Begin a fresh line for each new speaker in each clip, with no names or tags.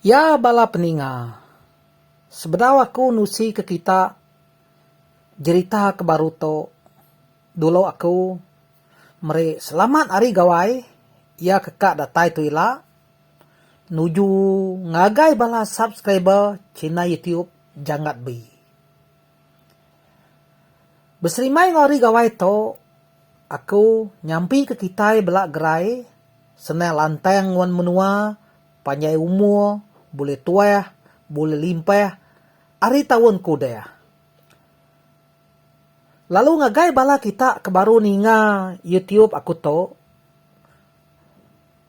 Ya bala peninga. Sebedau aku nusi ke kita jerita ke baru tu dulu aku. Meri selamat ari Gawai iya ke ka datai tu ila. Nuju ngagai bala subscriber china YouTube Janggat Bi. Beserimbai enggau ari Gawai tu aku nyampi ke kitai bela gerai senang lantang wan menua panjai umur bulih tuah bulih limpah ari taun ke udah. Lalu ngagai bala kita ke baru ninga YouTube aku tu,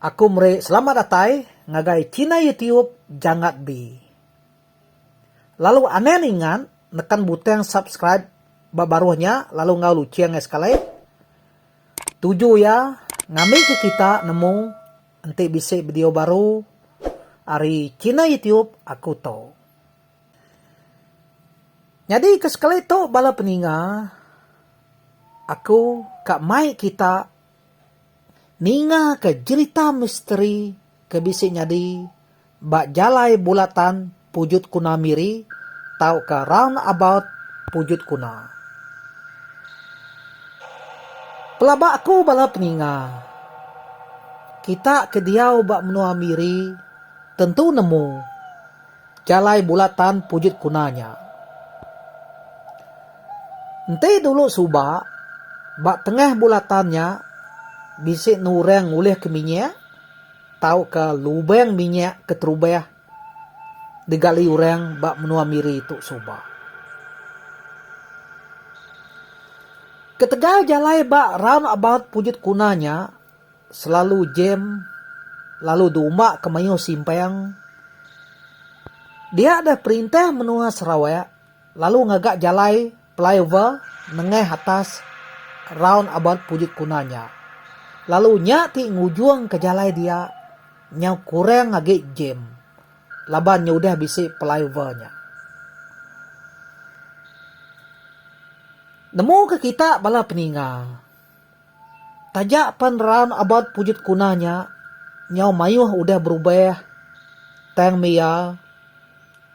aku meri selamat datai ngagai china YouTube Jangat B. Lalu anen ingat nekan butang subscribe ba baruh nya lalu enggau luching iya sekali. Tuju iya ngambika kita nemu enti bisi video baru ari china YouTube aku tu. Nyadi ke sekali tu bala peninga aku ka mai kita ninga ka jerita misteri ke bisi nyadi ba jalai bulatan pujut kuna miri tauka round about pujut kuna. Pelaba aku bala peninga kita ke diau ba menua miri tentu nemu. Jalai bulatan pujut kuna nya. Enti dulu suba, ba tengah bulatan nya bisi enam orang ngulihka minyak tauka lubang minyak ke terubah digali orang ba menua Miri tu suba. Ketegal jalai ba Roundabout Pujut Kuna nya, Selalu jam lalu diumba ke mayuh simpang. Dia deh perintah menua Sarawak lalu ngaga jalai flyover nengah atas round about Pujut Kuna nya. Lalu nya ti ngujungka jalai dia nyau kurang agi jam laban nya udah bisi flyover nya. Nemu ke kita bala peninga Taja pen raun abat pujut kuna nya, nyau mayuh udah berubah tang meh iya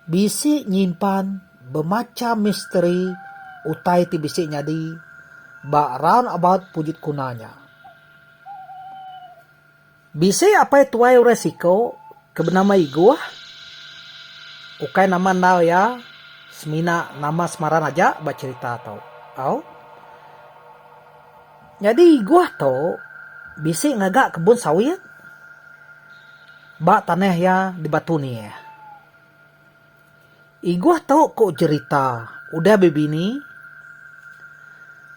bisi nyimpan bemacham misteri utai ti bisi nyadi ba raun abat pujut kuna nya. Bisi apai tuai orang siku ke benama Igoh. Ukai nama endar iya semina nama semaran aja ba cherita tu. Au. Nyadi Igoh tu bisi ngaga kebun sawit ba tanah iya di Batu Neh. Igoh tu ku jerita udah bebini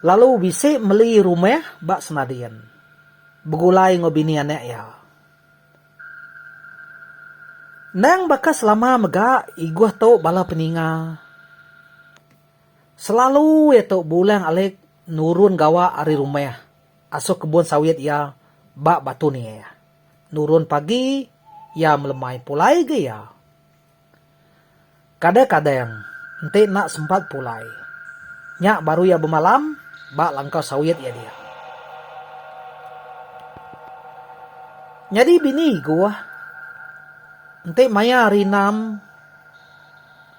lalu bisi meli rumah ba Senadin begulai enggau bini anak iya. Endang baka selama mega Igoh tu bala peninga selalu iya tu beulang alik nurun gawa ari rumah asuh kebun sawit iya ba Batu Neh. Nurun pagi iya melemai pulai ga iya. Kadang-kadang enti enda sempat pulai, nya baru iya bemalam ba langkau sawit iya diak. Nyadi bini Igoh enti maya hari enam,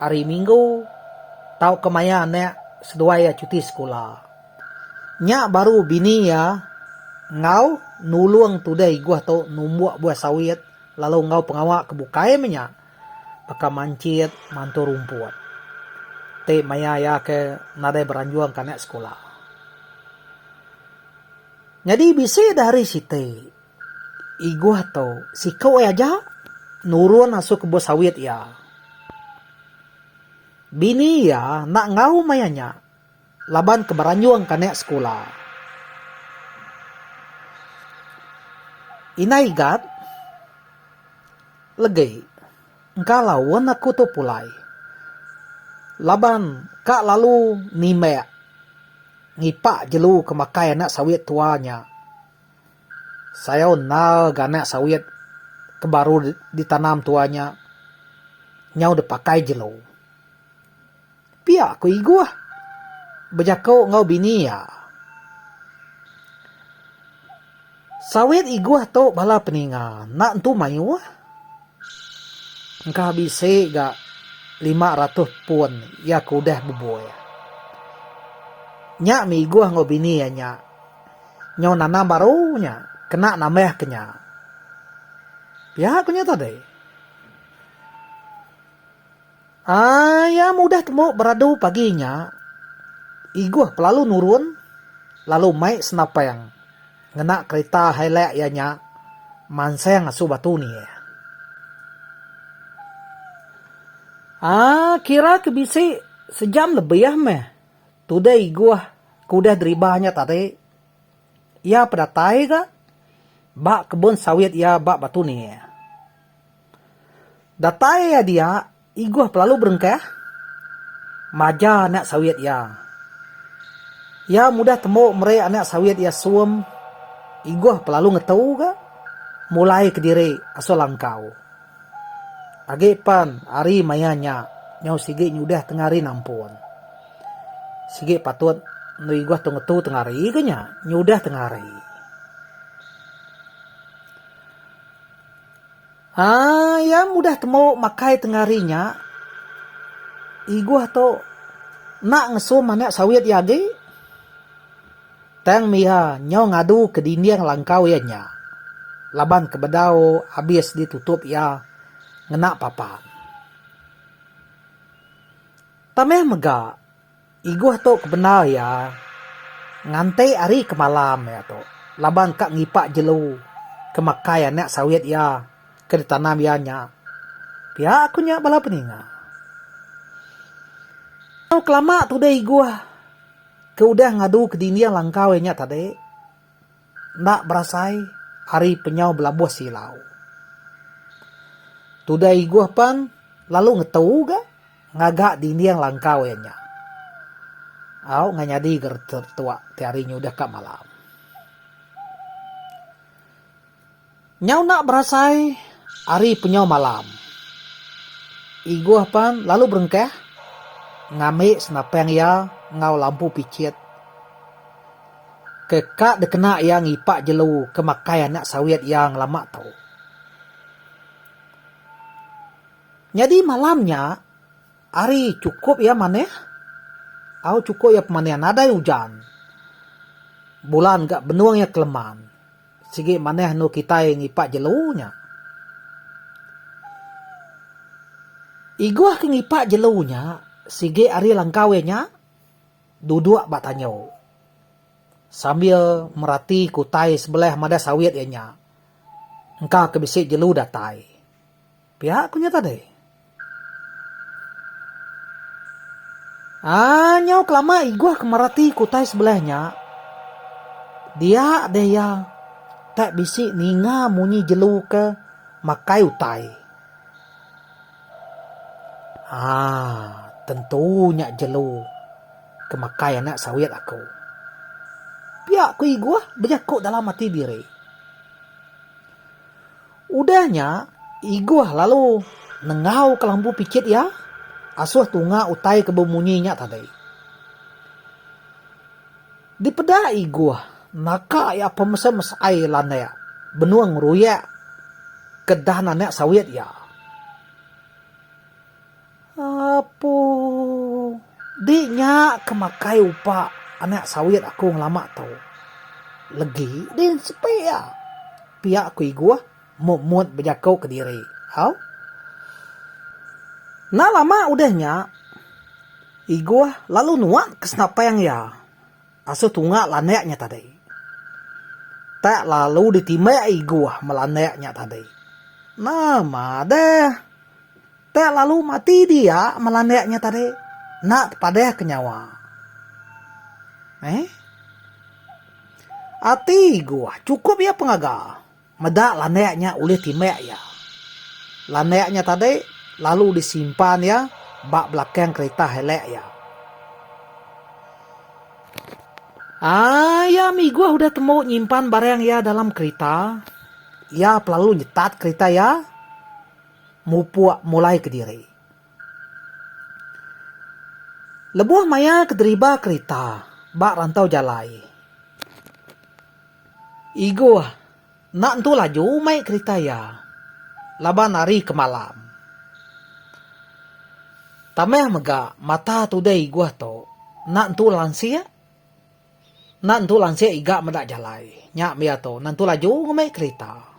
hari minggu tauka maya anak seduai iya cuti sekula, nya baru bini iya enggau nulung tudai Igoh tu numbuk buah sawit. Lalu enggau pengawa ke bukai meh nya, baka manchit, mantu rumput. Ti maya iya ke nadai beranjung ke anak sekula. Nyadi bisi deh hari siti, Igoh tu siku ai aja nurun asu kebun sawit iya. Bini iya enda enggau maya nya. Laban ke beranjung kanak sekula. Indai gat legi engka laun aku tu pulai. Laban ka lalu nimbak ngipak jelu ke makai anak sawit tua nya. Sayau endar ga anak sawit ke baru ditanam tua nya nyau dipakai jelu. Pia ku Igoh bejako enggau bini iya. Sawit Igoh tu bala peninga enda entu maioh. Engkah bisi ga lima ratoh pun iya ke udah beboi. Nya mih Igoh enggau bini iya nya nyau nanam baru nya kena nambah ke nya. Pia ku nya tadi. Ai am udah tembu beradu pagi nya, Igoh pelalu nurun lalu mai senapang ngena kerita Hilux iya nya mansang asu batu ni. Ai kira ke bisi sejam lebih meh tudah Igoh ke udah deriba nya tadi iya pedatai ga ba kebun sawit iya ba batu ni. Datai iya dia, Igoh pelalu berengkah maja anak sawit iya. Iya mudah tembu meri anak sawit iya sum. Igoh pelalu ngetu ga mulai kediri asal langkau. Agi pen hari maya nya, nyau sigi nyudah tengah hari nampun. Sigi patut enda Igoh tu ngetu tengah hari ke nya, nyudah tengah hari. Haa iya mudah temu makai tengari nya igoh tu enda ngesum anak sawit iya agi tang iya nyau ngadu ke dinding langkau iya nya laban ke bedau abis ditutup iya ngena papan. Tambah mega. Igoh tu ke bendar iya nganti hari ke malam iya tu laban ka ngipak jelu ke makai anak sawit iya ke ditanam iya nya. Pia ku nya bala peninga. Tau kelama tudih igoh ke udah ngadu ke dinding langkau iya nya tadi. Enda berasai ari penyau belabuh silau. Tudah Igoh pan lalu ngetu ga ngaga dinding langkau iya nya. Au enggau nyadi ga retuak ti hari nyudah ka malam. Nyau enda berasai ari penyau malam. Igoh pan lalu berengkah ngambi senapang iya enggau lampu pichit ke ka dikena iya ngipak jelu ke makai anak sawit iya ngelama tu. Nyadi malam nya hari chukup iya manah au chukup iya pemanih nadai ujan. Bulan ga benung iya keleman. Sigi manah anu kitai ngipak jelu nya. Igoh ke ngipak jelu nya, sigi ari langkau iya nya duduk ba tanyo sambil merati ke utai sebelah madah sawit iya nya engka ke bisi jelu datai. Pia ku nya tadi. Aa nyau kelama Iguh ke merati ke utai sebelah nya, dia deh iya tak bisi ninga munyi jelu ke makai utai. Aa tentu nya jelu ke makai anak sawit aku. Pia ku Iguh bejaku dalam ati diri. Udah nya, Igoh lalu nengau kelambu pichit iya asuh tunga utai ke bemunyi nya tadi. Dipeda Igoh, naka iya pemesai-mesai landik benung ngeruyak ke dahan anak sawit iya. Apo. Di nya ke makai upa anak sawit aku ngelama tu. Legi di sepi iya. Pia ku Igoh mut-mut bejako kediri. Au. Enda lama udah nya, Igoh lalu nuan ke senapang iya asuh tunga landak nya tadi. Tak lalu ditimbak Igoh ba landak nya tadi. Nama deh. Te lalu mati dia melandik nya tadi enda tepadah ke nyawa. Eeh. Ati Iguh chukup iya pengaga meda landik nya ulih timbak iya. Landik nya tadi lalu disimpan iya ba belakang kerita Hilux iya. Ayam Iguh udah tembu nyimpan barang iya dalam kerita, iya pelalu nyetat kerita iya mupuk mulai kediri. Lebuh maya ke deriba kerita ba rantau jalai. Igoh enda entu laju mai kerita iya laban hari ke malam. Tambah mega mata tudai Igoh tu enda entu lansik enda entu lansik iga meda jalai nya mih atu enda entu laju ngemai kerita.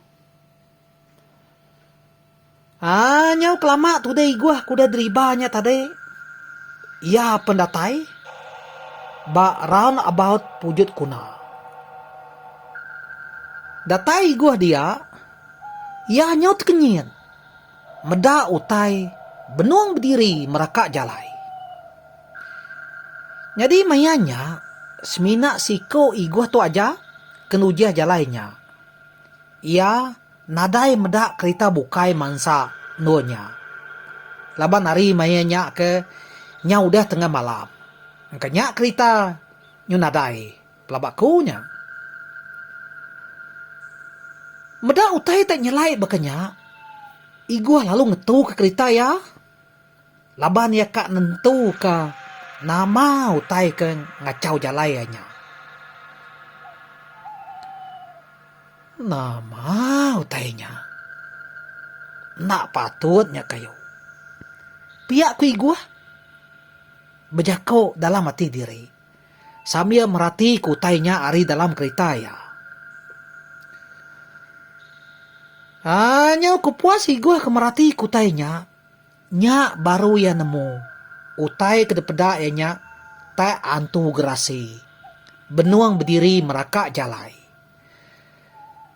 Haa nyau kelama tudah iguh kudah deriba nya tadi iya pen datai ba round about pujut kuna. Datai iguh dia iya nyau tekenyin meda utai benung bediri meraka jalai. Nyadi maya nya semina siko iguh tu aja ke nujih jalai nya Iya nadai meda kerita bukai mansa endur nya. Laban ari maya nya ke nya udah tengah malam. Engka nya kerita nyu nadai pelaba ku nya. Meda utai te nyelai baka nya, Igoh lalu ngetuka kerita iya. laban iya ka nentuka nama utai ke ngachau jalai iya nya. Nama utai nya enda patut nya kayu. Pia ku Iguh bejaku dalam ati diri sambil meratika utai nya ari dalam kerita iya. Aaa nyau kepuas Iguh ke meratika utai nya. Nya baru iya nemu, utai ke dipeda iya nya tak antu gerasi benung bediri meraka jalai.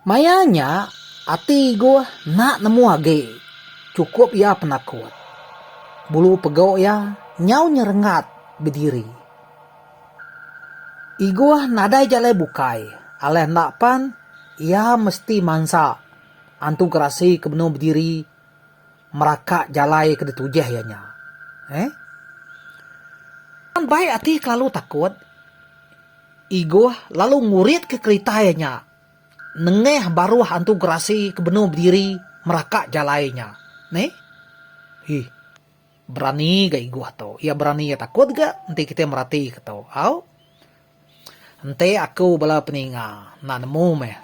Maya nya, ati Igoh enda nemu agi chukup iya penakut. Bulu pegok iya nyau nyerengat bediri. Igoh nadai jalai bukai, alah enda pan iya mesti mansa antu gerasi ke benung bediri Meraka jalai ke ditujih iya nya. Eh. Tang bai ati ke lalu takut. Igoh lalu nguritka kerita iya nya nengah baruh antu gerasi ke benung bediri meraka jalai nya. Neh. Hih. Berani ga Igoh tu. Iya berani iya takut ga enti kitai meratika tu. Au. Enti aku bala peninga enda nemu meh.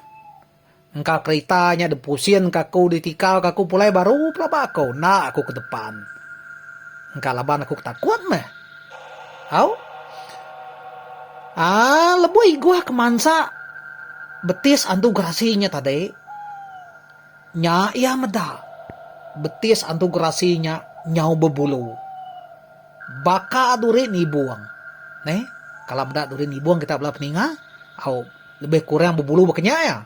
Engka kerita nya dipusinka aku ditikauka aku pulai baru pelaba aku enda aku ke depan. Engka laban aku ke takut meh. Au. Aa lebuh Igoh ke mansa betis antu gerasi nya tadi nya iya meda betis antu gerasi nya nyau bebulu. Baka duri nibung. Neh, kala meda duri nibung kita bela peninga, au lebih kurang bebulu baka nya iya.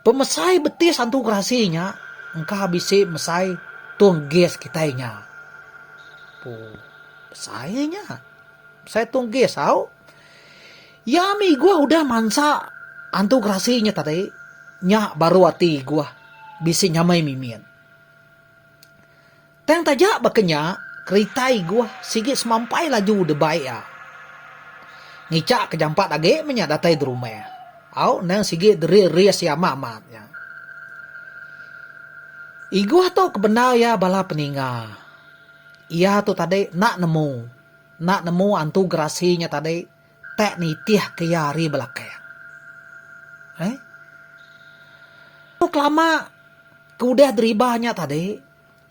Pemesai betis antu gerasi nya engka bisi mesai tung gas kitai nya. Pu, besai iya nya. Mesai tung gas au. Iya mih iguh udah mansa antu gerasi nya tadi, nya baru ati iguh bisi nyamai mimin. Tang taja baka nya, kerita Iguh sigi semampai laju debai iya. Ngichak ke jampat agi menya datai derumah. Au endang sigi deris-ris iya amat-amat nya. Iguh tu ke bendar iya bala peninga. Iya tu tadi enda nemu, enda nemu antu gerasi nya tadi tak nitih ke iya ari belakang. Ai. Kelama ke udah deriba nya tadi.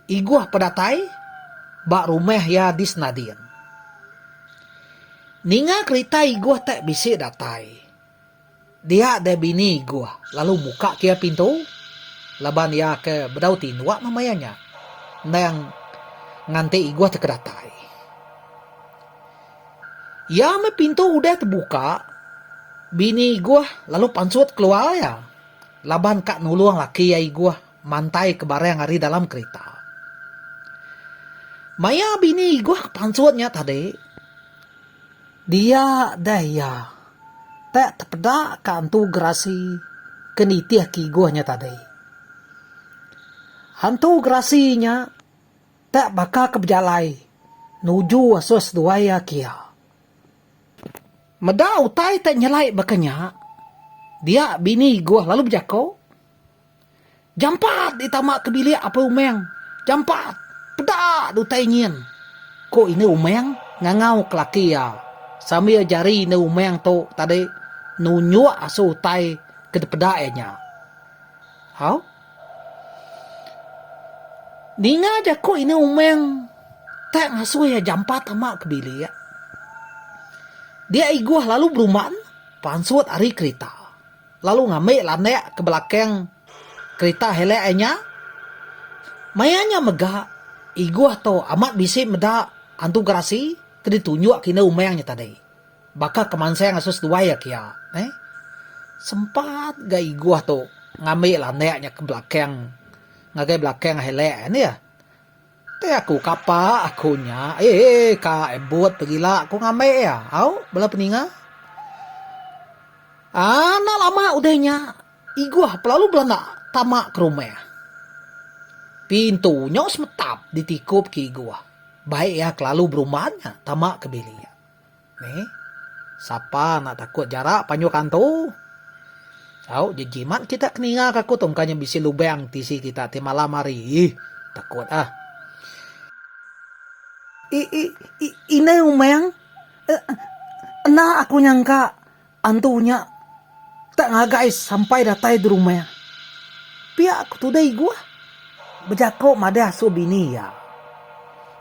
Igoh pedatai ba rumah iya di Senading. Ninga kerita Igoh tak bisi datai. Dia deh bini Igoh lalu muka ke iya pintu laban iya ke bedau tinduk meh maya nya endang nganti Igoh teka datai. Iya meh pintu udah tebuka bini Igoh lalu pansut keluar iya laban ka nulung laki iya Igoh. Mantaika barang ari dalam kerita. Maya bini Igoh pansut nya tadi, dia deh iya tak tepeda ka Entu Gerasi ke nitih ke Igoh nya tadi. Entu Gerasi nya tak baka ke bejalai nuju asus seduai iya ke iya. Meda utai tak nyelai baka nya, dia bini Igoh lalu bejaku. Jampat dih tama ke bilik Apai Umang. Jampat. Peda dah utai nyin. Ku Indu Umang ngangau ke laki iya sambil jari Indu Umang tu tadi nunjuk asu utai ke dipeda iya nya. Au. Ninga jaku Indu Umang tak ngasuh iya jampat tama ke bilik. Dia Igoh lalu beruman pansut ari kerita. lalu ngambi landak ke belakang kerita helek ai nya. Maya nya mega Igoh tu amat bisi meda hantu gerasi ke ditunjuk ke indu Umang nya tadi. Baka ke mansang asu seduai iya ke iya. Neh. Sempat ga Igoh tu ngambi landak nya ke belakang ngagai belakang helek ai neh. Te aku kapa aku nya eeh ka ebut pegila ku ngambe iya au bela peninga anak lama udah nya iguh pelalu belanda tama ke rumah pintu nyu semetap ditikup ke iguh baik iya kelalu berumban nya tama ke bilik iya. Ni, sapa enda takut jarak panjur kantu? Au, jejimat kita ke ninga ke aku tu engka nya bisi lubang tisi kita ti malam hari. Ih, takut ah. I, i, i, inai umang. E, enda aku nyangka. Antu nya tak ngagai sampai datai di rumah. Pia ku tuda Iguh bejako madah asu bini iya.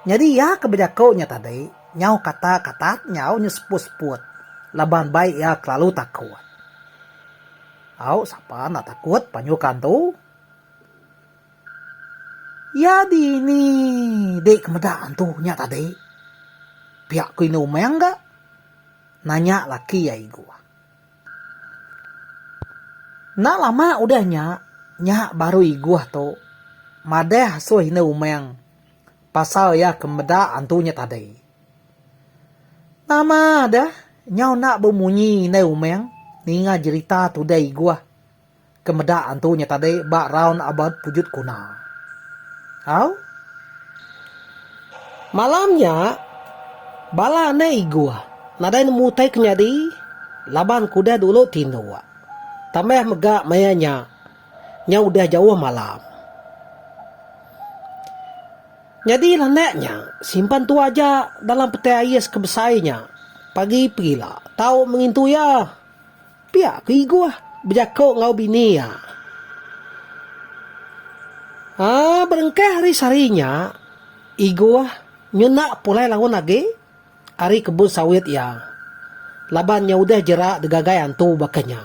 Nyadi iya ke bejako nya tadi nyau kata katat nyau nya seput-seput laban bai iya kelalu takut. Au sapa enda takut panyu ke antu. Iya dini dek ke meda antu nya tadi. Pia ku inu umang ga. Nanya laki ai igu. Enda lama udah nya, nya baru igu tu madah asuh indu Umang pasal iya ke meda antu nya tadi. Nama deh nyau enda bemunyi indai Umang ninga jerita tudai igu. ke meda antu nya tadi ba raun abad pujut guna. Au. Malam nya, bala anak Igoh nadai nemu utai ke nyadi laban ke udah dulu tinduk. Tambah mega maya nya, nya udah jauh malam. Nyadi landak nya simpan tu aja dalam petai ais ke besai nya pagi pegila tau mengintu iya. Pia ke Igoh bejako enggau bini iya. Aa berengkah ari sehari nya, Igoh nyuna pulai laun agi ari kebun sawit iya laban nya udah jera digagai antu baka nya.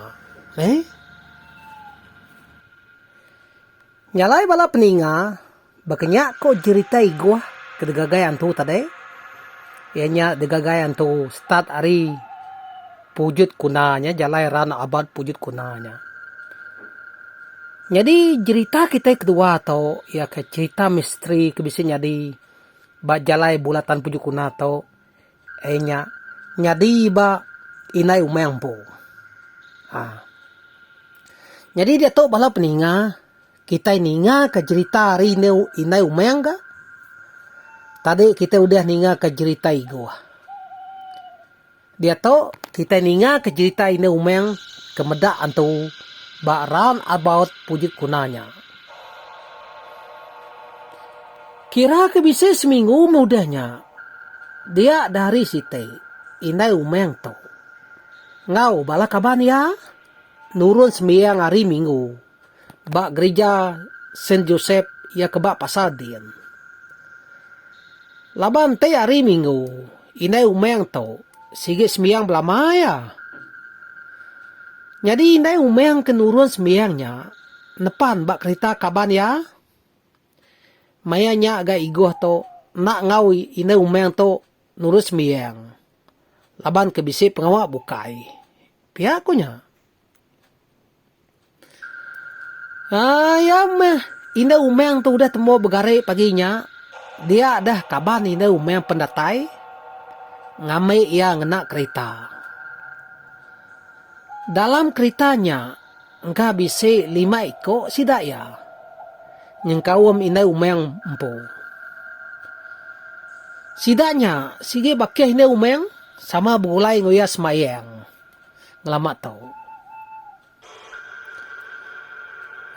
Nyalai bala peninga. Baka nya ko jerita Igoh ke digagai antu tadi, iya nya digagai antu start ari pujut kuna nya jalai run about pujut kuna nya. Nyadi jerita kitai kedua to iya ke jerita misteri ke bisi nyadi ba jalai bulatan pujut kuna to iya nya nyadi ba indai umai empu. Aaa nyadi diatu bala peninga Kitai ningaka jerita ari indu indai umang ga. Tadi kitai udah ningaka jerita Igoh. Diatu kitai ningaka jerita indu umang ke meda antu ba round about pujut kuna nya. Kira ke bisi seminggu meh udah nya. Dia da hari siti indai umang tu enggau bala kaban iya nurun sembiang ari minggu. ba gerija Saint Joseph iya ke ba Pasar Din. Laban enti hari minggu, indai umang tu sigi sembiang belama iya. Nyadi indai umang ke nurun sembiang nya nepan ba kerita kaban iya. Maya nya ga Igoh tu enda enggau indai umang tu nurun sembiang laban ke bisi pengawa bukai, pia ku nya. Aaa iya meh indah umang tu udah tembu begari pagi nya dia deh kaban indah umang pen datai ngambi iya ngena kerita. Dalam kerita nya engka bisi lima iko sida iya nyengkaum indah umang empu. Sida nya sigi bakih indah umang sama begulai enggau iya semayang. Ngelamak tau.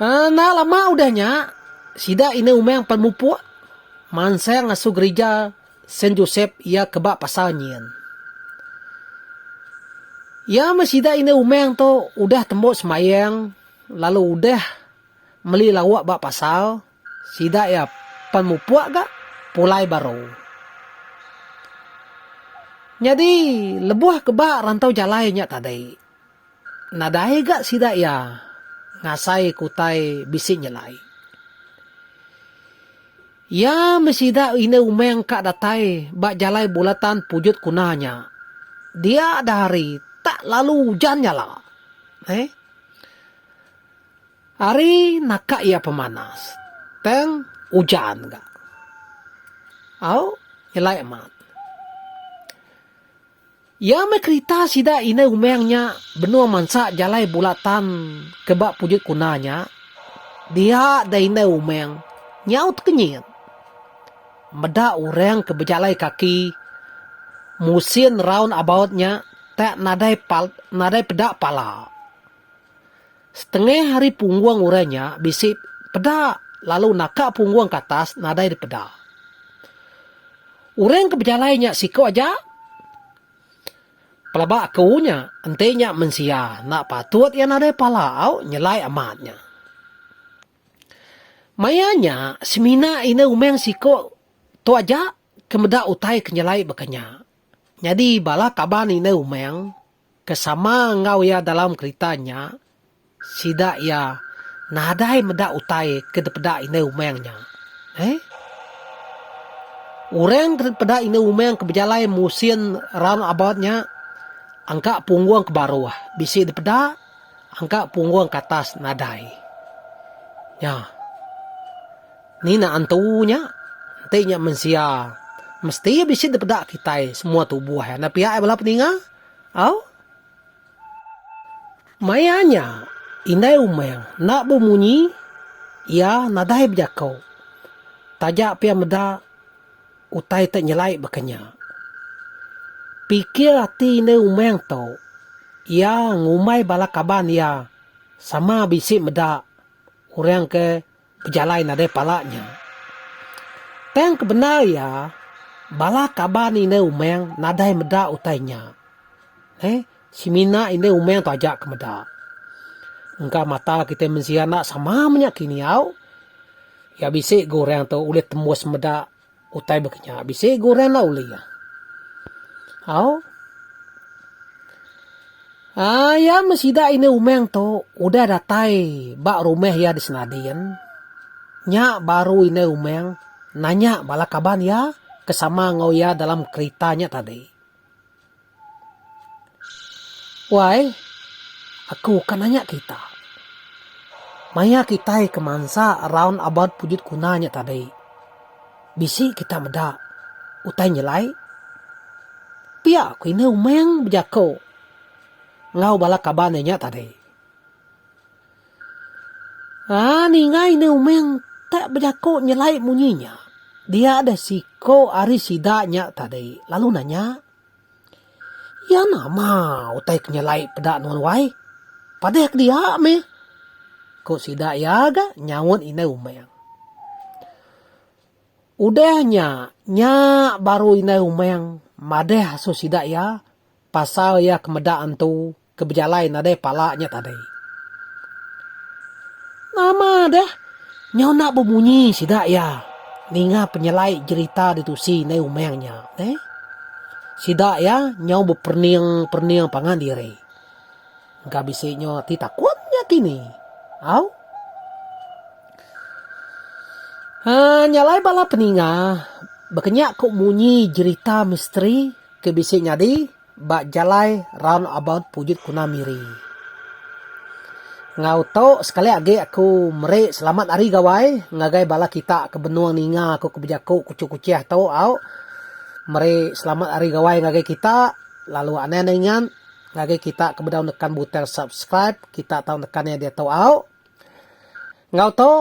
Enda lama udah nya, sida Ina Umang pan mupuk mansang ngasuh gerija Saint Joseph iya ke ba Pasar Nyin. Iya meh sida Ina Umang tu udah tembu sembayang lalu udah meli lauk ba pasar. Sida iya pan mupuk ga pulai baru. Nyadi lebuh ke ba rantau jalai nya tadi, nadai ga sida iya ngasai ke utai bisi nyelai. Iya meh sida indu umang ka datai ba jalai bulatan Pujut Kuna nya. Dia da hari tak lalu ujan nyala. Heh. Ari naka iya pemanas tang ujan ga. Au nyelai amat. Iya meh kerita sida indai umang nya benung mansa jalai bula tan ke ba pujut kuna nya dia da indai umang nyaut kenyit. Meda orang ke bejalai kaki musin round about nya tak nadai nadai peda pala. Setengah ari punggung orang nya bisi peda lalu naka punggung ke atas nadai dipeda. Orang ke bejalai nya siku aja. Pelaba aku nya, enti nya mensia enda patut iya nadai pala au nyelai amat nya. Maya nya semina ina umang siku tu aja ke meda utai ke nyelai baka nya. Nyadi bala kaban ina umang. Ke sama enggau iya dalam kerita nya, sida iya nadai meda utai ke dipeda indu umang nya. Eeh. Orang ke dipeda indu umang ke bejalai musin round about nya engka punggung ke baruh bisi dipeda engka punggung ke atas nadai. Nya. Ni naan tu nya? Enti nya mensia, mesti iya bisi dipeda kitai semua tubuh iya enda pia ai bala peninga. Au. Maya nya, Indai Umang enda bemunyi, iya nadai bejako. Taja pia meda utai tu nyelai baka nya. Pikir ati Indai Umang tu, iya ngumbai bala kaban iya sama bisi meda orang ke. Pejalai nadai pala nya. Tang kebendar iya, bala kaban indah umang nadai meda utai nya. Heh, semina indah umang tu aja ke meda. Engka mata kitai mensia enda sama menya kini au. Iya bisi ga orang tu ulih tembus meda. Utai baka nya bisi guran la uli iya. Au. Aa iya meh sida indu Umang tu udah datai ba rumah iya di Senadin. Nya baru indu Umang nanya bala kaban iya ke sama enggau iya dalam kerita nya tadi. Wai, aku ka nanya kita. Maya kitai ke mansa raun abat pujut kuna nya tadi, bisi kita meda utai nyelai? Pia ku enda Umang bejako enggau bala kaban iya nya tadi. Haa ningai ne umeng tak bejako nyelai munyi nya dia deh siko ari sida nya tadi lalu nanya iya nama utai ke nyelai peda nuan wai padeh ke dia meh ko sida iya ga nyaut indai umeng. Udah nya nya baru indai umeng madeh asu sida iya pasal iya ke meda antu. ke bejalai nadai pala nya tadi. Nama deh nyau enda bemunyi sida iya ninga penyelai jerita ditusi indai Umang nya neh. Sida iya nyau beperening-perening pangan diri. Engka bisi nyau ati takut nya kini. Au. Haa nya alai bala peninga baka nya ku munyi jerita misteri ke bisi nyadi. Ba jalai round about Pujut Kuna Miri. Enggau tu sekali agi aku meri selamat hari gawai ngagai bala kita ke benung ninga aku ke bejaku Kuching Kuching tu au. Meri selamat hari gawai ngagai kita lalu anai enda ingat ngagai kita ke bedau nekan butang subscribe kita tau nekan iya diatu au. Enggau tu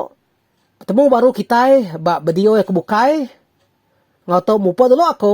betemu baru kitai ba video ke bukai. Enggau tu mupa dulu aku.